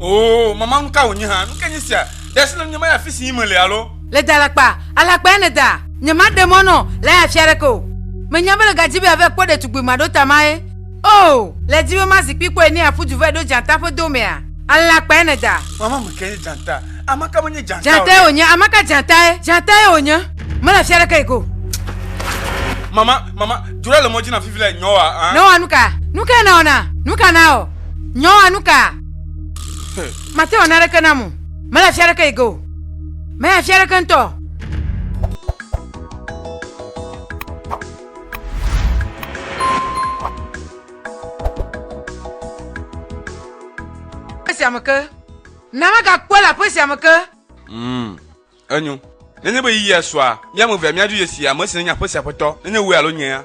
oo mama nu ka wònye hã nu ke nye sia ɖe si le nye ma ya fi si yi mele alo le da alakpa alakpa ene da nye ma ɖe mɔ nɔ le ya fia ɖeke o menya be le gadzi be ave kpɔ ɖetugbui ma ɖo tama ye o le di be ma zikpui kpɔe ne aƒu du vɛ ɖo dzata ƒe do mea alakpa ene da mama me ke nye dzata amaka menye dzata dzata ye wònye amaka dzata ye dzata ye wònye mele fia ɖeke yi ko mama Mama, dzo ɖe le mɔ dzi na fifi le nyɔ wa. Ah. Nɔ wa nu ka? Nu ka na ɔna? Nu ka na ɔ? Nyɔ wa nu ka? Mate ɔna ɖeke na mu. Mele afia ɖeke yi ge o. Mele afia ɖeke ŋutɔ. Esi ame ke. Na magakpɔ le aƒe sia me ke. Mm. Enyo. Nenye be yiyia sua, mía ame evea míadzo ye si, ame si nenye aƒe sia aƒetɔ, nenye wòe alo nyea.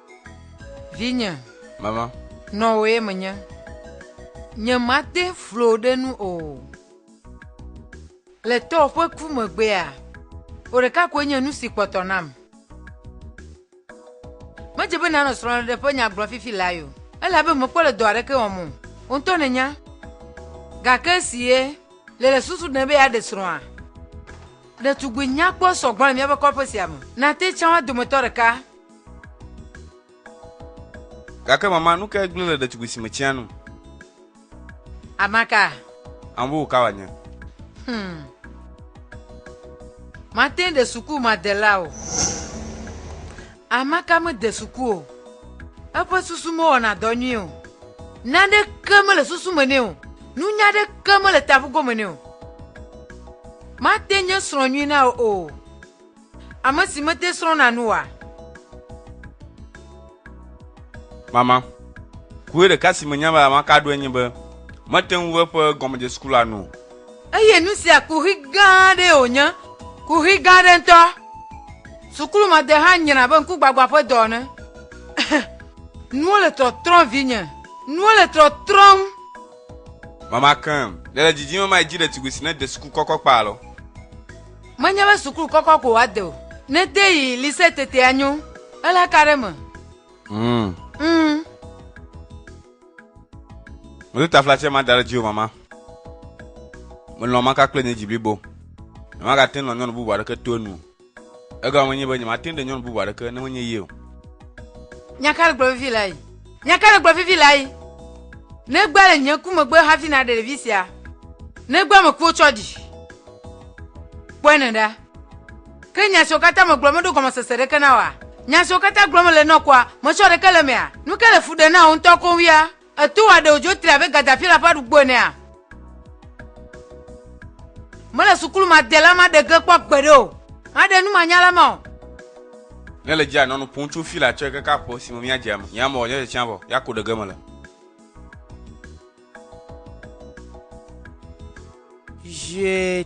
Vinye. Mama. Nɔwòe menye. Nyemate flo ɖe nu o. Le tɔwò ƒe ku megbea, wò ɖeka koe nye nu si kpɔtɔ nam. Medze be nànɔ srɔ̃ɖeɖe ƒe nya gblɔm fifi lae o, elabe mekpɔ le dɔ aɖeke wɔm o. Wò ŋutɔ nènya. Gake esi ye le le susu ɖem be yeaɖe srɔ̃a, ɖetugbui nyakpɔ sɔ gbɔ le míaƒe kɔƒe sia me. Nàte tsã woa dometɔ ɖeka. Gake mama, nu kae gblẽ le ɖetugbui si me tsɛa nu? Amaka. Ambo ka wòanye? Hmm. Mate ŋu ɖe suku madela o. Amaka mede suku o. Eƒe susu mewɔna dɔ nyuie o. Naneke mele susu me nɛ o. Nunya aɖeke mele taƒugome nɛ o. Mate nye srɔ̃ nyui na wò o. Ame si mete srɔ̃na nu oa? Mama. Kue ɖeka si menya be mama ka ɖoe nye be mete ŋu eƒe gɔmedzesi kura nu o. Eye nu sia kuxi gã aɖee wònye, kuxi gã aɖe ŋutɔ. Sukulumade hã nyra abe ŋkugbagbã ƒe dɔ ene. Nuwo le trɔtrɔm, vinye. Nuwo le trɔtrɔm. Mama, Ke nèle didim be mayi dzi ɖetugbui si nede suku kɔkɔ kpa lɔ? Menye be suklu kɔkɔ ko wòade o. Ne ete yi lise tete anyo. Ele ka ɖe me? Mm. Mm. Medo taflatse ma da ɖe dziwò mama. Melɔ̃ maka kple nye dzi blibo. Nyemagate ŋu nɔ nyɔnu bubu aɖeke to enu o. Egɔme nye be nyemate ŋu ɖe nyɔnu bubu aɖeke ne menye ye o. Nya ka gblɔ vevi le? Nya ka nègblɔ fifi le ayi? Nègbea le nye ŋku megbe hafi nàɖe ɖevi sia? Nègbea ame kuwo tsɔ ɖi? Kpɔe ne ɖa. Ke nya siwo katã megblɔ meɖo gɔmesese ɖeke na wòa? Nya siwo katã gblɔm mele nɔ kɔa, metsɔ ɖeke le emea? Nu ka le fu ɖem na wò ŋutɔ koŋ wia? Èto wò aɖewo dzo tri abe Gaddafi la ƒe aɖugbɔ enea? Mele sukulu ma de la ma ɖe ge kpɔ gbeɖe o. Ma ɖe nu ma nya la ma o. Ne le djia nɔnu pun tso fi la tsɔe kaka ƒe si me mia djia me. Nya mɔ, nya dje tsia vɔ. Ya ko ɖe ge mele. Je.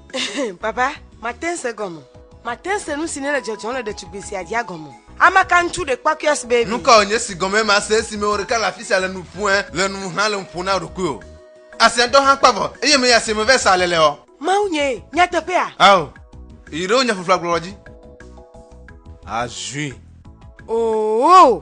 Baba, mate se gɔme. Mate se nu si nele dzɔdzɔm le ɖetugbui sia dzia gɔme. Ame ka ŋutsu ɖe kpɔakuias baby? Nu kae wònye si gɔmee mase esi mewò ɖeka le afi sia le nu ƒoe le nu ŋu hã le nu ƒom na ɖokuiwò? Asia ŋutɔ hã kpa vɔ, eye meyi asie me vɛ sa aleleɔ? Mawu nyee, nyateƒea? Ao, yi ɖe wò nya ƒuƒlu agblɔlɔ dzi azui. Oo!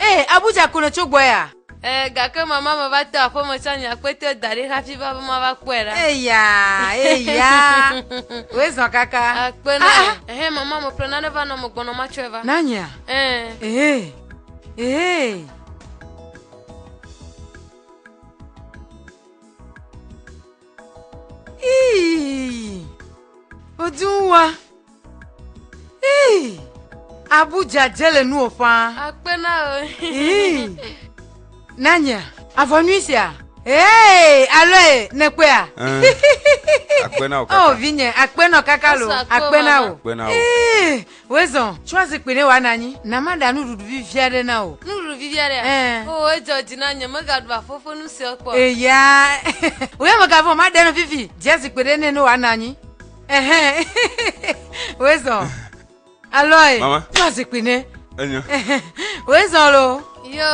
Ee, Abuja ko nètso gbɔ ya? Ee, gake mama meva to aƒeme tsɔ nye akpetɛ da ɖi hafi va be mava kpɔe ɖa. Eya, eya, wòe zɔ kaka. Akpe na wò. Ehɛ, mama meƒle nane va nɔ megbɔnɔ matsɔe va. Na nyea? Ee. Ee, ee. Ii, odun wa. Ii, abu dzadze le nuwò ƒãa. Akpe na o. Ii, nanya, avɔ nyui sia. Ee, aloe, nèkpɔea? Eh, akpe na wò kaka. Oh, vinye, akpe nɔ kaka lo, Asa akpe akpe na mama. wò. Akpe na wò. Ii, wezɔ, tsɔ zikpui ne wòanɔ anyi, na maɖa nuɖuɖu vivi aɖe na wò. Nuɖuɖu vivi aɖea? Eh. O, edzɔ dzi na nye, megaɖu afɔfe nu sia kpɔ. Eya, wòya megavɔ̃, maɖe nu vivi, dzia zikpui ɖe nɛ ne wòanɔ anyi. wezɔ alɔe tɔ zikpui ne wezɔ lo yo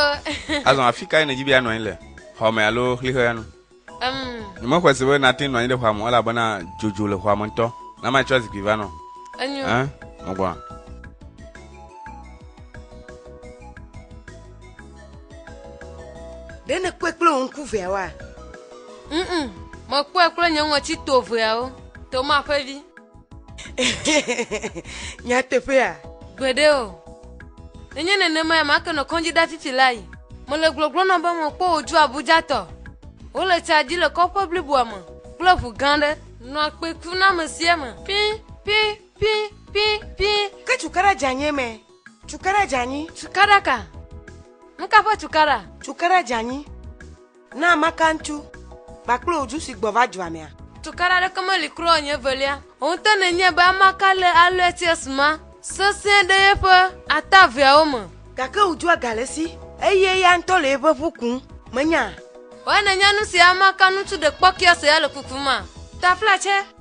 azɔ afi kae nedzi bi anɔ anyi le xɔme alo xlixɔya nu nyemexɔe se be nate nɔ anyi ɖe xɔame elabena dzodzo le xɔame ŋutɔ na ma tsɔ zikpui va nɔ megbɔna Ɖe nèkpɔe kple wò ŋku veawoa? Mm, mekpɔe kple nye ŋɔti to veawo, Toma ƒe vi. Nyateƒea? Gbeɖe o. Nenye nenemae make nɔ kɔndziɖafifi la yi. Mele gbɔgblɔ nɔ be mekpɔ wòdzo Abujatɔ. Wole tsa dzi le kɔƒe bliboa me kple ʋu gã ɖe. Nɔa kpe kum na amesiame. Pii, pii, pii, pii, pii. Ke cukaɖa dzeanyi eme. Cukaɖa dzeanyi. Cukaɖa ka? Nuka ƒe cukaɖa? Cukaɖa dzeanyi. Na maka ŋutu kpakple wò du si gbɔ va dua mea. Cukaɖa ɖeke meli kura o nye evelia. Wò ŋutɔ nènyae be ame ka le Aluetius ma sesẽ ɖe yeƒe ata eveawo me. Gake wò dua gale esi eye eya ŋutɔ le yeƒe ƒu kum. Mènyaa? Wɔe nènya nu si ame ka ŋutu ɖekpɔkɔea se ya le kuku ma. Taflatse,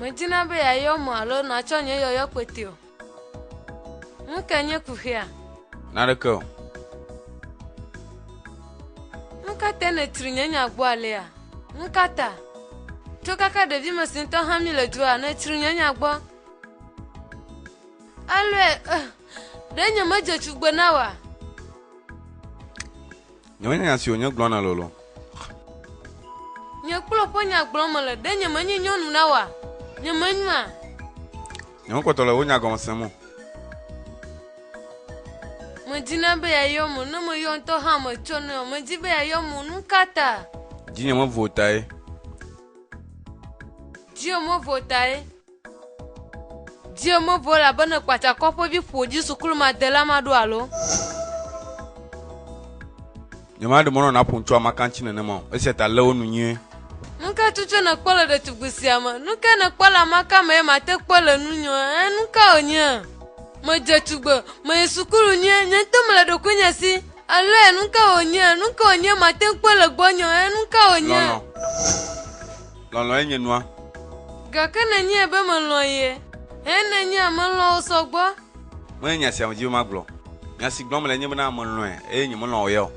Medina be yeayɔ mo alo natsɔ nye yɔyɔ kpete o. Nu ka nye kuxia? Naneke o. Nu ka te nètri nye nya gbɔ alea? Nu ka ta? Tso kaka ɖevime si ŋutɔ hã mí le dua, nètsri nye nya gbɔ. Alɔe, eh, ɖe nye medze tugbe na wa. Nye menye nya si wònye gblɔ na lolo. Nye kplɔ ƒe nya gblɔ mele, ɖe nye menye nyɔnu na wa. Nye menyua. Nye mekpɔtɔ le wò nya gɔme sem o. Medina be yayɔ mo, ne meyɔ ŋutɔ hã metsɔ ne o. Medi be yayɔ mo, nu ka ta? Dzinye mevo tae. Dzinye mevo tae. Dio mevɔ elabene kpatsakɔ ƒe vi ƒodzi sukulumadela maɖo alo. Nyemaɖe mɔnɔ naƒo ŋutsu amakantsi nenema o, esia ta lé wo nu nyuie. Nu ka tutu nèkpɔ le ɖetugbi sia me? Nu ka nèkpɔ le amaka me ye mate kpɔ le nu nyɔ? Ẽ, nu ka wònye? Medze tugbe, meyi sukulu nyuie, nye ŋutɔ mele ɖokuinye si. Alo ẽ, nu ka wònye? Nu ka wònye mate kpɔ le gbɔnyɔ? Ẽ, nu ka wònye? Lɔlɔ̃. Lɔlɔ̃e nye nua. Gake nenye be melɔ̃ ye. Hɛn nenye melɔ̃wò sɔ gbɔ. Menye nya sia medi be magblɔ. Nya si gblɔm mele nye bena melɔ̃e eye nyemelɔ̃ wò ya o.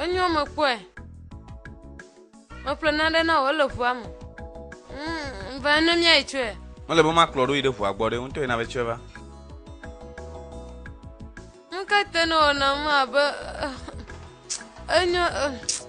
Enyɔ mekpɔe. Meƒle naɖe na wò ele ʋua me. Mm, va ne míayi tsɔe. Mele be makplɔ ɖo yi ɖe ʋua gbɔ ɖe ŋutɔ yina be tsɔe va. Ŋkete ne wòna me abe eh, enyo. Eh.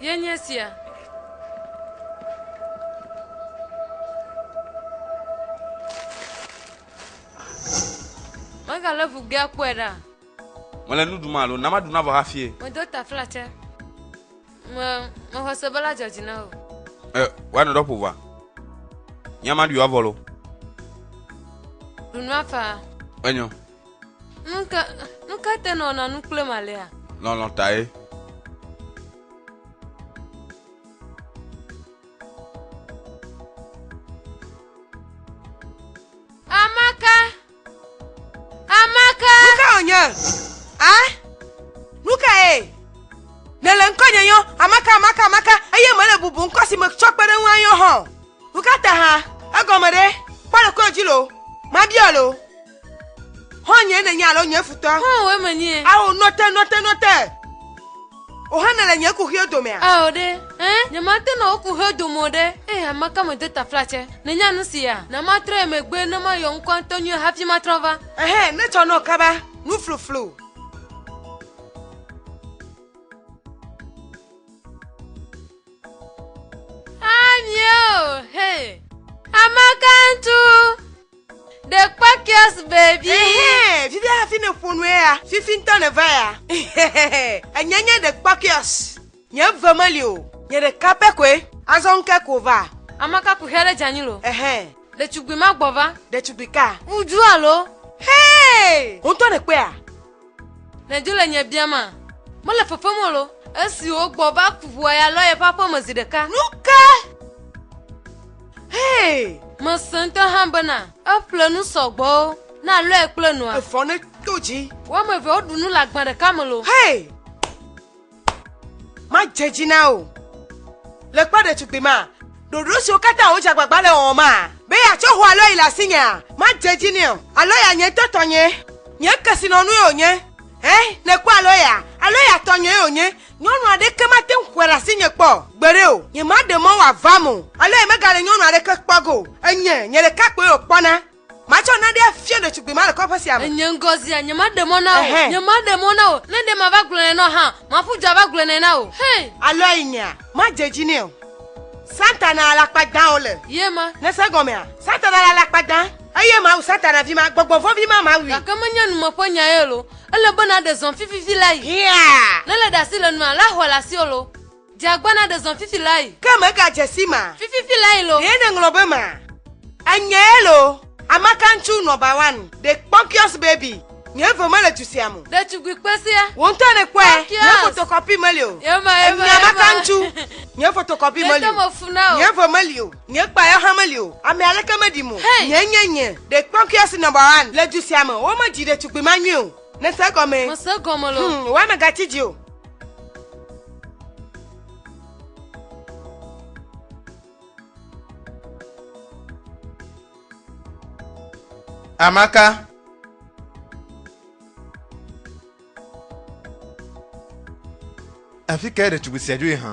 Ye nye sia. Mega le ŋu gea kpɔe ɖa. Mele nu ɖum alo? Na maɖu navɔ hafie. Medo taflatse. Me mexɔ se be la dzɔ dzi na wò. E, woanɔ ɖɔ ƒo va. Nya ma ɖui avɔ lo. Ɖu nua fa. Enyo. Nuka nuka te nɔ na nu kple malea? Lɔlɔ tae. Amaka! Nu ka wònye? A? Nu kae? Nèle ŋkɔnye yɔm Amaka, Amaka, Amaka, eye mele bubu ŋkɔ si metsɔ kpe ɖe ŋu ayɔ hã o. Nu ka ta hã? Egɔme ɖe? Kpɔ ɖokuiwò dzi loo. Mabia loo. Xɔ̃nye nènye alo nye futɔ? Xɔ̃wòe menye. Ao, nɔ te, nɔ te, nɔ te! O hã nèle nye kuxio domea? Ao ɖe, ẽ, nyemate nɔ wò kuxio dome o ɖe, eye ame ka medo taflatsɛ? Nènya nu sia? Na matrɔe megbe ne mayɔ ŋkɔa ŋutɔ nyuie hafi matrɔ va. Ɛhɛ, netsɔ nɔ kaba, nufluflu. Amie o, he. Ameka ŋtu. The Quakias baby. Ehe, vivi hafi ne ƒo nu ya. Fifi ŋutɔ ne va ya. Enye nye The Quakias. Nye ve meli o. Nye ɖeka pɛ koe. Azɔ ŋke ko va. Amaka ku hia ɖe djanyi lo. Ehe. Ɖetugbui ma gbɔ va. Ɖetugbui ka. Ŋudzu alo. Hey! Ŋutɔ ne kpea. Nèdzo le nye biama. Mele fefem o lo. Esi wògbɔ va ku ʋua ya lɔ yeƒe aƒe me zi ɖeka. Nu ka? Hee! Mese ŋutɔ hã bena eƒle nu sɔgbɔ na lɔe kple nua. Efɔ ne to dzi. Woame eve woɖu nu le agba ɖeka me lo. Hee! madze dzi na o le kpɔ ɖetugbui ma ɖoɖo siwo katã wodze agbagba le wɔwɔ ma be yeatsɔ ho alo yi le asinyea madze dzi nɛ o alo ya nye ŋutɔ tɔnye nye kesinɔnue wònye he nekpɔ alo ya alo ya tɔnye wònye nyɔnu aɖeke mate ŋu xɔe ɖe asinye kpɔ gbeɖe o nyemaɖe mɔ wòavam o alo yemegale nyɔnu aɖeke kpɔ go enye nye ɖeka koe wòkpɔna Matsɔ naɖe afia ɖetugbui ma le kɔƒe sia me. Enye ŋgɔzia, nyemaɖe mɔ na wò. Nyemaɖe mɔ na wò. Ne ɖe mava gblɔ nɛ nɔ hã, maƒu du ava gblɔ nɛ na wò. Hey! Alo ayi nyea, madze dzi nɛ o. Satana alakpa dãwo le. Ye ma. Nèse egɔmea? Satana le alakpa dã, eye mawu Satana vi ma, gbɔgbɔ vɔ̃ vi ma, mawui. Gake menye numeƒenya ye loo. Ele be naɖe zɔn fififi la yi. Hiaa! Ne le ɖe asi le nua, la xɔe le asiwò loo. Dze agbana ɖe zɔn fifi layi. Ke mèga dze si ma. Fififi layi lo. Ɖee nèŋlɔ be ma. Enye lo. Amakaŋtsu nɔ ba wan. Ɖe kpɔkiɔs baby. Nye eve mele du sia mo. Ɖetugbui kpesia. Wò ŋutɔ nèkpɔe. Kpɔkiɔs. Nye fotokɔpi meli o. Yema yema yema. Enye amakaŋtsu. Nye fotokɔpi meli o. Ɖe te me fu na o. Nye eve meli o. Nye kpa yɔ hã meli o. Ame aleke meɖim o. Hey. Nye nye nye. Ɖe kpɔkiɔs nɔ ba wan. Le du sia me. Womedzi ɖetugbui ma nyuie o. Nèse egɔme? Mese egɔme lo. Hmm, woa megatsi dzi o. Amaka. Afi kae ɖetugbui sia dzoe hã?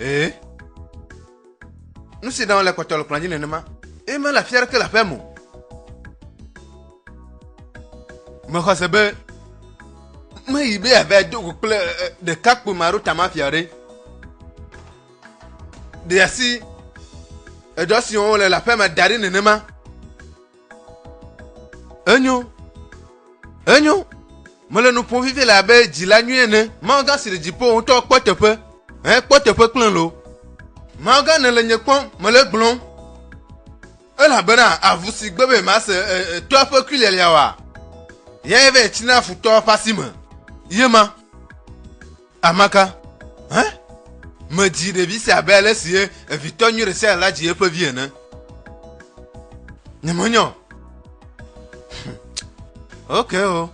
Ee. Nu si ɖam le kpɔtɔ le kplɔ̃a dzi nenema. Eye mele afi aɖeke le aƒea me o. Mexɔ se be meyi be yeava do go kple ɖekakpui ma ɖo tamafia ɖe. Ɖe asi edɔ si wɔm wole le aƒea me da ɖi nenema. Enyo. Enyo. Mele nu ƒom vevie le abe dzila nyui ene. Mawugã si le dziƒo ŋutɔ kpɔ teƒe. Ekpɔ teƒe kple lo. Mawugã nèle nye kpɔm, mele gblɔm. Elabena avu si gbe be mase etɔa ƒe kui lialia wa, yae vɛ tsina futɔa ƒe asi me. Ye ma. Amaka, hã? Medzi ɖevi sia abe ale si evitɔ nyui ɖe sia ɖe la dzi eƒe vi ene. Nyemenyɔ. Hm. Ok o. Oh.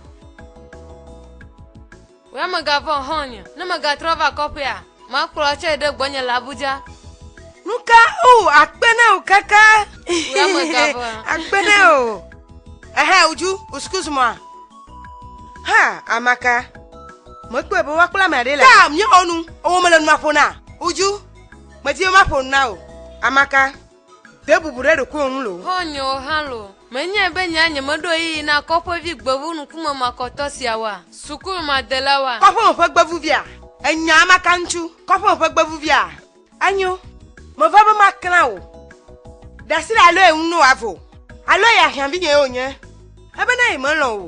Wòya megavɔ̃ hɔ̃ nye, ne megatrɔ va kɔƒea, makplɔ atsɔe ɖe gbɔnye le Abuja. Nu ka o akpe na o kaka. Wòya megavɔ̃. Akpe na o. Ehe, uju, uskuzumɔa. Ha, amaka. Mekpɔe be woakpla ame aɖe le. Taa mi xɔ nu, ewɔ mele nua ƒo na. Uju, medi be maƒo nu na o. Amaka, de bubu ɖe ɖokuiwò ŋu lo. Xɔ nye wò hã lo. Menyae be nye anye meɖo ɣeyiɣi na kɔƒevi gbevu ŋkume makɔtɔ siawoa? Sukumadelawoa? Kɔƒeme ƒe gbevuvia? Ènya amaka ŋutsu, kɔƒeme ƒe gbevuvia? Enyo, meva be maklã wò. Ɖe asi ɖe aloe ŋu no avo. Aloe ya hiã vinye yewo nye. Ebe na yemelɔ̃ wò.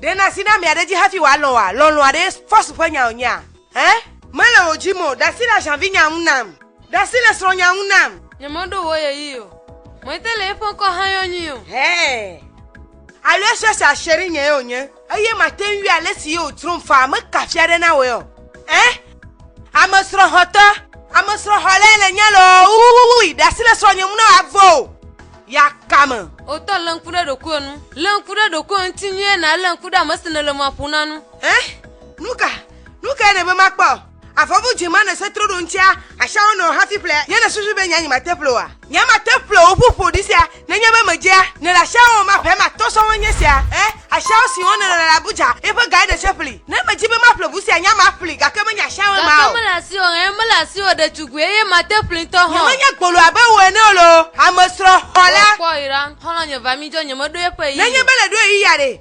Ɖe na asi na mia ɖe dzi hafi wòalɔ̃ wòa? Lɔlɔ̃a ɖe fɔsu ƒe nya wònyea? Ẽ? Mele wò dzi mo. Ɖe asi ɖe ahiã vinya ŋu nam. Ɖe asi ɖe srɔ̃nya ŋu nam. Nyemeɖo wò ye yi o. Mɔte le eƒe ŋkɔ hã yɔ nyui o. Hɛɛ. Aloe sue sia shere nye yewo nye. Eye màte ŋui ale si ye wòtsrɔ̃m faa meka afia ɖe na wòe o. Ẽ, ame srɔ̃xɔtɔ, ame srɔ̃xɔlae nènye loo wuwuwuwui! Ɖe asi le srɔ̃nye ŋu ne wòavo o. Yakame. O tɔ, lé ŋku ɖe ɖokuiwò ŋu. Lé ŋku ɖe ɖokuiwò ŋuti nyuie, nàlé ŋku ɖe ame si nèle mɔa ƒom na ŋu. Ẽ, nu ka, nu kae nèbe makpɔ? Avɔvu dzi ma nèse troɖoŋutia asia wo nɔ o hafi ƒle ye nèsusu be nyanyi mate ƒle oa? Nya mate ƒle o ƒu ƒoɖi sia nenye be medzea nèle asia wɔm ma ƒe ma tɔ sɔhɔ nye sia. Ẽ, asiawo siwo nèle le Abuja ye ƒe gae nèse ƒli. Ne medi be maƒle ʋu sia nya maƒli gake menye asiawo ema o. Gake mele asiwò o, ẽ, mele asiwò o ɖetugbui eye mate ƒli ŋutɔ hã o. Nyemenye gbolo abe wò ene o loo, amesrɔ̃ xɔla. Wò kpɔ yi ɖa, xɔlɔ̃nye va mi dzɔ nyemeɖo eƒe ɣeyiɣi o. Nenye be nèɖo ɣeyiɣia ɖe?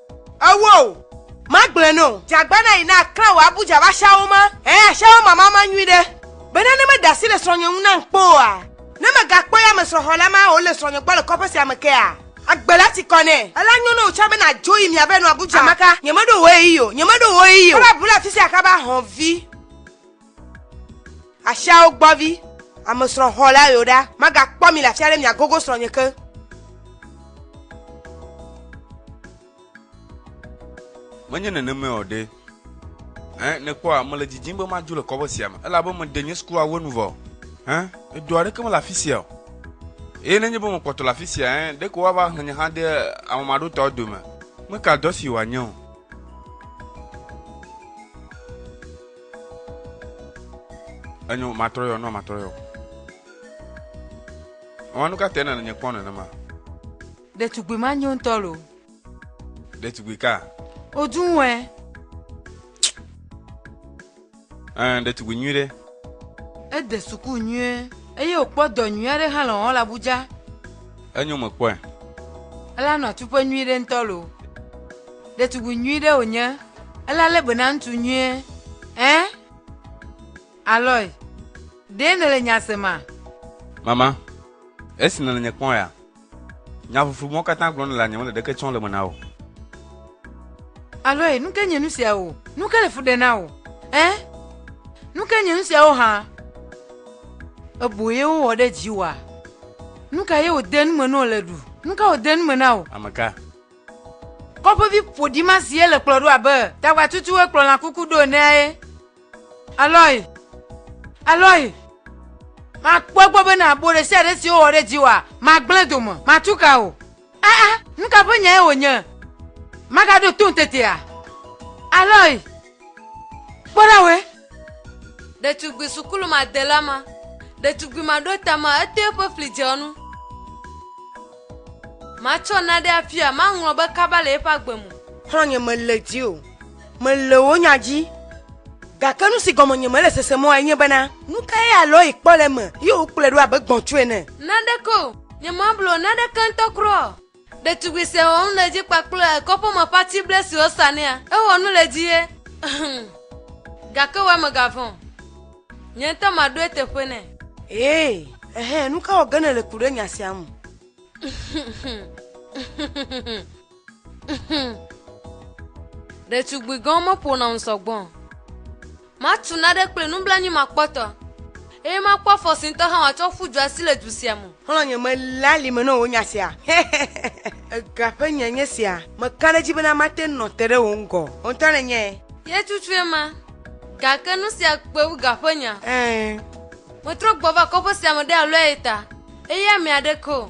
Ewɔ o. Magblɔe nɛ o. Dze agbana yi na klã wò abu dza va shawo ma. Ẽ, ashawo mama ma nyui ɖe. Bena ne meda asi le srɔ̃nye ŋu nam kpɔ oa? Ne megakpɔ ya me srɔ̃xɔla ma wòle srɔ̃nye gbɔ le kɔƒe sia me kea? Agbe la ti kɔ nɛ. Ela nyo na wò tsã be nàdzo yi mia ve nɔ abu dza. Ameka, Nyemeɖo ɣeyiɣi o, nyemeɖo ɣeyiɣi o. Eva bu le afisia kaba, hɔ̃vi. Asiawo gbɔvi, ame srɔ̃ xɔ la yo ɖa, magakpɔ mi le afia ɖe miagogo srɔ̃nye ke. Menye nenemae o ɖe. Ẽ, nèkpɔa, mele didim be madzo le kɔƒe sia me, elabe meɖe nye sukuawu enu vɔ. Ẽ, edu aɖeke mele afi sia o. Eye nenye be mekpɔtɔ le afi sia, ẽ, ɖeko woava hlẽ nye hã de ame maɖotawo dome. Meka dɔ si wòanye o. Enyo matrɔ yɔ nɔ matrɔ yɔ. Mama nu ka tɛ nana nye kpɔ nenema? Ɖetugbui ma nyo ŋutɔ lo. Ɖetugbui ka? Oduwɛ. Ɛ ɖetugbui nyui ɖe. Ede suku nyuie eye wòkpɔ dɔ nyui aɖe hã le wɔwɔ le Abuja. Enyo mekpɔe. Ela nɔa tuƒe nyuiɖe ŋutɔ loo. Ɖetugbui nyuiɖe wònye. Ela lé be na ŋutsu nyuie. Ẽ? Aloy, ɖee nèle nya sema? Mama, esi nèle nye kpɔm ya, nya ƒuƒlu mawo katã gblɔm nèlea nyemele ɖeke tsɔm le me na wò. Aloy, nukae nye nusiawo? Nukae le fu ɖem na wò? Ẽ? Nukae nye nusiawo hã? Ebo ye wowɔ ɖe dziwòa? Nu ka ye wòde nu me ne wòle ɖu? Nu ka wòde nu me na wò? Ame ka? Kɔƒevi ƒoɖi ma si ele kplɔ ɖo abe tagbatutu hekplɔ lã kuku ɖo enea ye. Alɔi! Alɔi! Makpɔ egbɔ be na bo ɖe sia ɖe si wowɔ ɖe dziwòa, magblẽ dome, matu ka o. Aa, nu ka ƒe nyae wònye? Magaɖo tom tetea? Alɔe, kpɔ ɖa wòe. Ɖetugbui sukulumadela ma, ɖetugbui maɖotama etoe ƒe fli dze enu. Matsɔ naɖe afia, maŋlɔ be kaba le eƒe agbe me. Xlɔ̃nye mele dzi o. mele wò nya dzi, gake nu si gɔme nye mele sese mɔe nye bena, nu kae alɔe kpɔ le eme ye wòkplɔe ɖo abe gbɔ̃tsu ene? Naneke o, nyemable o, naneke ŋutɔ kura o. Ɖetugbui sia wɔ nu le edzi kpakple kɔƒe me ƒe atible siwo sanɛa. Ewɔ nu le edzi ye. Hum! Gake wòe megavɔ̃ o. Nye ŋutɔ maɖo eteƒe nɛ. Ee, ɛhɛ, nu ka wɔ ge nèle ku ɖe nya sia ŋu? ɖetugbui gãwo meƒona nu sɔgbɔ o. Matu naɖe kple nublanui makpɔtɔ, eye makpɔ afɔ si ŋutɔ hã wòatsɔ ƒu du asi le du sia me. Xlɔ̃ nye mele ali me na wò nya sia. Ega ƒe nya nye sia. Meka ɖe edzi bena mate ŋu nɔ te ɖe wò ŋgɔ. Wò ŋutɔ nènyae. Ye tutue ma, gake nu sia kpe wu ga ƒe nya. Ɛ̃. Metrɔ gbɔ va kɔƒe sia me ɖe alɔe ta, eye ame aɖeke o.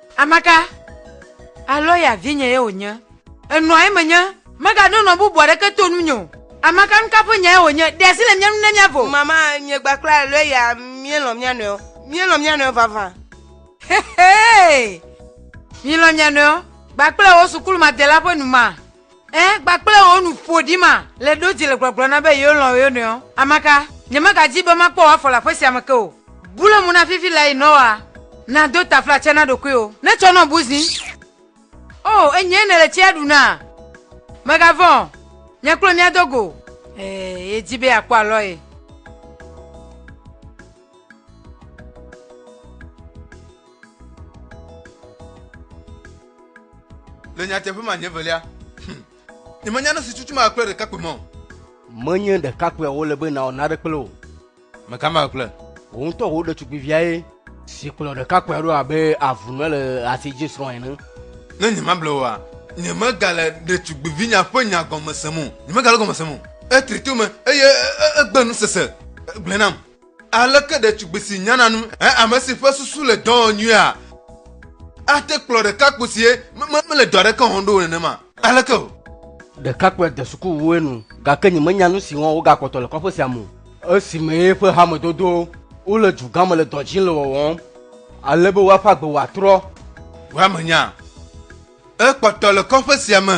Amaka, alo ya vinye ye wònye. Enɔa eme nye, megaɖo nɔ bubu aɖeke to nunye o. Amaka, nuka ƒe nyae wònye? Ɖe asi le mía ŋu ne míavo. Mama, nye gba kple alo ya míelɔ̃ mía nɔewo. Míelɔ̃ mía nɔewo vavã. Xexee! Milɔ̃ mia nɔewo, gba kple wò sukulumadela ƒe nu ma. Ẽ, kpakple wò nu ƒoɖi ma le ɖo dzi le gblɔgblɔ na be yewolɔ̃ wo nɔewo. Ameka, nyemagadi be makpɔ wò afɔ le aƒe sia me ke o. Bu le mo na fifi lae Noa. Nàdo taflatse na ɖokuiwò. Ne tsɔ nɔ bu zi. O, enyee nèle tsia ɖu na. Mègavɔ̃ o. Nye kple wò míado go. Ee, yedi be yeakpɔ alɔ ye. Le nyateƒe ma nye velia. Hm. Nyemenya nu si tutum akple ɖekakpui mɔ. Menye ɖekakpuia wole be nawɔ nane kple o. Meka ma kple. Wò ŋutɔ wò ɖetugbuiviae. Si kplɔ ɖekakpuia ɖo abe avunɔ le asi dzi srɔ̃ ene. Ne nyemable oa, nyemegale ɖetugbuivinya ƒe nya gɔme sem o. Nyemegale gɔme sem o. Etri to me eye egbe nusese gblẽ nam. Aleke ɖetugbi si nyana nu he ame si ƒe susu le dɔ wɔm nyuia ate kplɔ ɖekakpui si mele dɔ aɖeke wɔm ɖo nenema? Aleke o! Ɖekakpuia de sukuwue nu, gake nyemenya nu si wɔm wògakpɔtɔ le kɔƒe sia me o. Esime eƒe hamedodowo wole dugã me le dɔ dzim le wɔwɔm ale be woaƒe agbe wòatrɔ. Wamenya. Ekpɔtɔ le kɔƒe sia me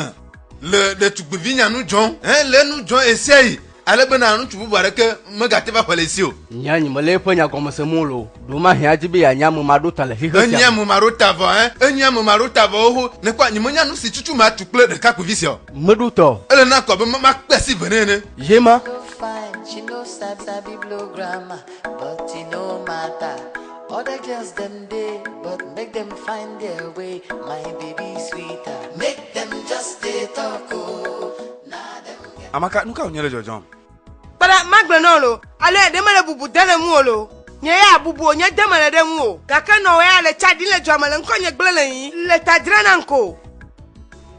le ɖetugbivinya nu dzɔm hele enu dzɔm ɣesiaɣi ale bena ŋutsu bubu aɖeke megate va ƒle ye si o. Nye anyi mele eƒe nya gɔme sem o loo. Ɖewomahĩ adi be yeanye ame maɖota le xexe sia me. Enye ame maɖota vɔ ẽ. Enye ame maɖota vɔ xoxo. Nèkpɔ anyi menya nu si tutu matu kple ɖekakpuivi sia o. Meɖo ta o. Ele na ko abe makpe asi vɛ nɛ ene. Ye ma. Other girls them day, but make them find their way. My baby sweeter, make them just dey talk oh. Nah them get. Amaka, nu ka wònye le dzɔdzɔm? Kpɔɖa, magblẽ nɔ lo, alo eɖe mele bubu de le ŋuwò lo. Nye ya bubu o, nye de mele ɖe ŋuwò. Gake nɔ wòya le tsa ɖim le dua me le ŋkɔnye gblẽ le yi, le ta dra nam ko.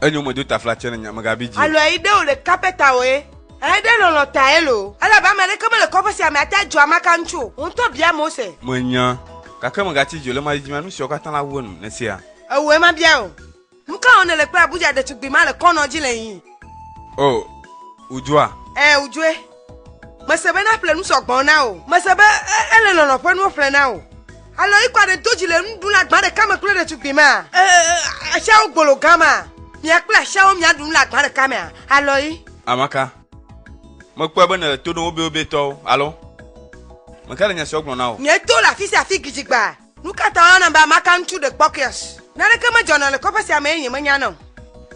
Enyo medo taflatse ne nya, megabi dzi o. Alo eyi ɖe o ɖe kapɛta oe. Eɖe lɔlɔ̃ tae loo, elabe ame aɖeke mele kɔƒe sia me ate adzɔ amaka ŋutsu o. Wò ŋutɔ bia Mose. Menya, gake mègati dzi o, le ɣemaɣi dzi mea, nu siawo katã la wu enu. Nèsea? Ewɔe mabia wò. Nu ka wɔm nèle kple Abuja ɖetugbui ma le kɔnɔ dzi le yiyim? Oo, wòdzɔa. Ɛ̃, wòdzɔe. Mese be naƒle nu sɔ gbɔ na wò. Mese be ele lɔlɔ̃ ƒe nuwo ƒlem na wò. Alo yi kɔ aɖe do dzi le nuɖula gbã ɖeka me kple ɖetugbui ma. Asiawo gbolo gã ma. Mia kple asiawo mia ɖu nu le agba ɖeka mea. Alo yi. Amaka. Mekpɔe be nèle to ɖom wobewobee tɔwo, alo? Meka le nya siawo gblɔ na wò? Nye to le afi sia afi gidigba. Nu ka ta woyɔnam be Amaka ŋutsu ɖekpɔkɔeas? Naneke medzɔna le kɔƒe sia me eye nyemenya na o.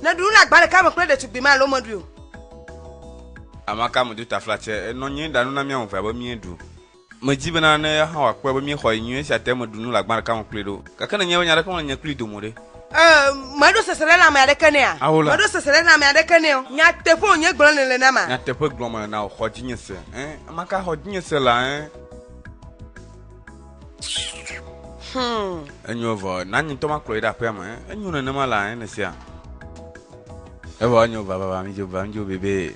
Nèɖu nu le agba ɖeka me kple ɖetugbui ma alo mèɖui o? Amaka medo taflatse. Enɔ anyi ɖa nu na mía ame evea be míeɖu. Medi bena ne eya hã wòakpɔe be míexɔ ye nyuie esia te meɖu nu le agba ɖeka me kplii ɖe o. Gake ne nyemenya aɖeke me le nye kplii dome o ɖe? Ɛɛ, meɖo sesẽɖe na ame aɖeke nɛa? Ao la. Meɖo sesẽɖe na ame aɖeke nɛ o. Nyateƒe wònye gblɔm nèle na ma? Nyateƒe gblɔm mele na wò, xɔ dzinye se. Ɛɛ, ame ka xɔ dzinye se lea? Ɛɛ. Hum. Enyo evɔ, na nye ŋutɔ makplɔ yi ɖe aƒea me. Ɛɛ, enyo nenema lea? Ɛɛ, ne sea. Evɔ enyo, vavava, midzo, va, midzo bebee.